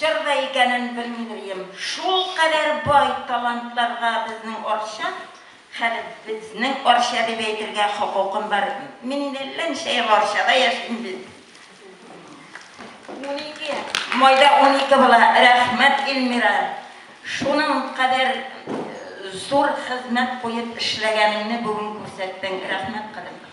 Чор да икәнен белмидерем. Шулкадәр бай талантларга безнең Арча, хәле безнең Арча дип әйтергә хокукым бар. Мин инде әллә ничә ел Арчада яшим бит. Унике, майда унике була. Рәхмәт, Ильмира, шуның кадәр зур хезмәт куеп эшләгәнеңне бүген күрсәттең. Рәхмәт, кадерле.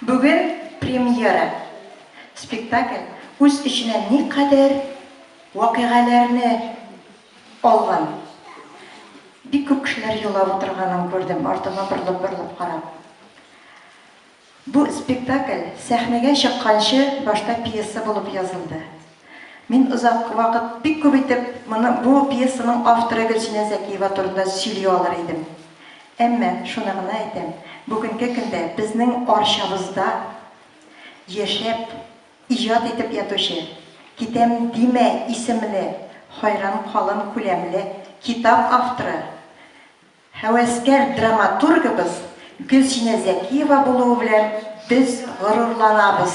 Бүген премьера. Спектакль үз эченә никадәр вакыйгаләрне алган. Бик күп кешеләр елап утырганын күрдем, артыма борылып-борылып карап. Бу спектакль сәхнәгә чыкканчы башта пьеса булып язылды. Мин озак вакыт бик күп итеп моны, бу пьесаның авторы Гөлсинә Зәкиева турында сөйли алыр идем. Әмма, шуны гына әйтәм, бүгенге көндә безнең Арчабызда яшәп, иҗат итеп ятучы Китәм димә исемле хайран калын күләмле китап авторы, һәвәскәр драматургыбыз Гөлсинә Зәкиева булуы белән без горурланабыз.